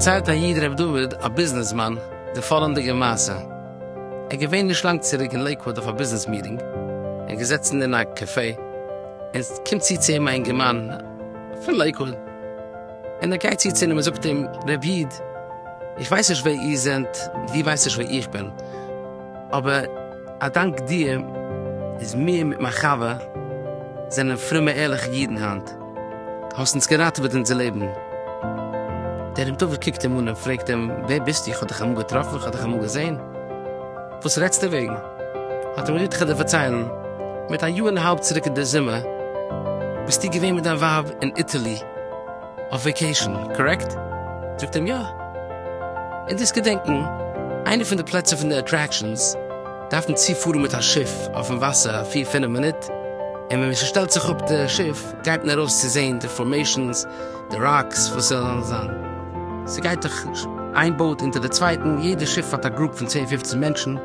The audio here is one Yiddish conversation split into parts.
פארציילט א איד ר' דוד א ביזנעסמאן די פאלענדיגע מעשה, ער געווען נישט לאנג צוריק אין לעיקוואד אויף א ביזנעס מיטינג, ער געזעצן אין א קעפעי, און סקומט צו צו אים א אינגערמאן פון לעיקוואד, און ער גייט צו צו אים און זאגט אים, רבי איד, איך ווייס נישט ווער איר זענט, דו ווייסט נישט ווער איך בין, אבער א דאנק דיר איז מיר מיט מיין חבר זענען פרומע ערליכע אידן היינט, דו האסט אונז געראטעוועט אונזער לעבן. דער רבי דוד קוקט אים אן און פרעגט אים, ווער ביסטו? איך האב דיך אמאל געטראפן? איך האב דיך אמאל געזען? וואס רעדסטו וועגן? האט אים ר' יוטחדער פארציילן, מיט א יאר און א האלב צוריק אין די זומער ביסטו געווען מיט דיין ווייב אין איטעלי אויף וועיקעישן, קארעקט? זאגט אים יא. און דאס געדענקען, איינע פון די פלעצער פון די אטרעקשאנס דארפן צו פארן מיט א שיף אויפן וואסער פיר פינף מינוט, און ווען מען שטעלט זיך אפ די שיף גייט מען ארויס צו זעהן די פארמעישאנס, די ראקס וואס זענען זיין. ס'גייט דאך איין באוט אונטער די צווייטן, יעדע שיף האט א גרופ פון צען פופצן מענטשן, און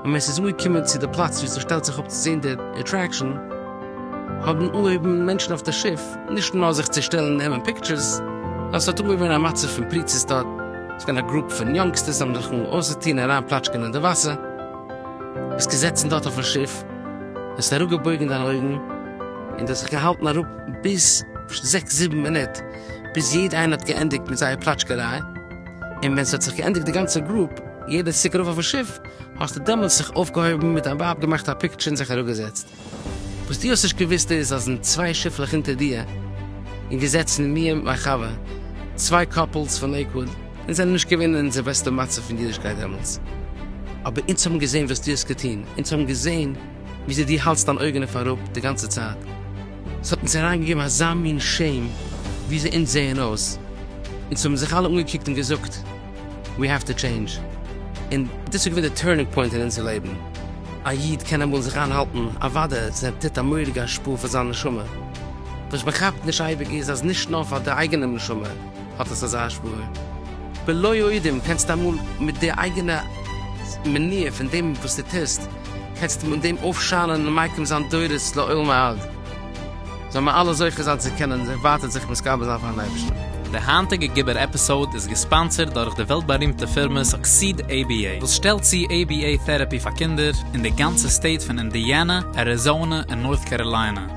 ווען ס'איז אנגעקומען צו די פלאץ ווי ס'שטעלט זיך אפ צו זען די עטרעקשאן, האבן אנגעהויבן מענטשן אויף די שיף נישט נאר זיך צו שטעלן און נעמען פיקטשערס, נאר ס'האט אנגעהויבן א מצב פון פריצות דארט, ס'איז געווען א גרופ פון יונגסטערס האבן זיך אנגעהויבן אויסצוטון און אריין פלאטשקען אין די וואסער, ביסט געזעצן דארט אויפן שיף, האסט אראפגעבויגן דיינע אויגן און דיך זיך געהאלטן אראפ. ביז זעקס זיבן מינוט, ביז יעדע איינער האט געענדיגט מיט זייער פלאטשקעריי, און ווען ס'האט זיך געענדיגט די גאנצע גרופ, יעדער צוריק ארויף אויפן שיף, האסטו דעמאלטס זיך אויפגעהויבן מיט דיין ווייב געמאכט א פיקטשער און זיך אראפגעזעצט. וואס דו האסט נישט געוואוסט איז אז אין צוויי שיפלעך אונטער דיר און געזעצן מיר מיט מיין חבר, צוויי קאפלס פון לעיקוואד, אונז זענען נישט געווען אין אונזער בעסטע מצב פון אידישקייט דעמאלטס, אבער אונז האבן געזען וואס דו האסט געטון, אונז האבן געזען. וויאזוי דו האלטסט דיין אויגן אויף אראפ די גאנצע צייט, עס האט אונז אריינגעגעבן אזא מין שעם וויאזוי אונז זעען אויס, אונז האבן זיך אלע אנגעקוקט און געזאגט ווי האוו טו טשעינדזש, און דאס איז געווען די טורנינג פוינט אין אונזער לעבן, א איד קען אמאל זיך איינהאלטן, אוודאי עס טוט א מורא'דיגע השפעה אויף זיין נשמה, וואס מען כאפט נישט אייביג איז אז נישט נאר פאר די אייגענע נשמה, האט עס אזא השפעה. בלא יודעים קענסטו אמאל מיט די אייגענע מניעה פון דעם וואס דו טוסט, קענסטו מיט דעם אויפשיינען און מייקר זיין דורות לעולמי עד. זאלן מיר אלע זוכה זיין צו קענען ווייטער זיך מתקרב זיין פאר'ן אייבערשטן. די היינטיגע גיבור עפיסאוד איז געספאנסערד דורך די וועלט בארימטע פירמע סוקסיד עי בי עי וואס שטעלט צו עי בי עי טעראפי פאר קינדער אין די גאנצע סטעיט פון אינדיאנע, אריזאנע און נארט קאראליינע.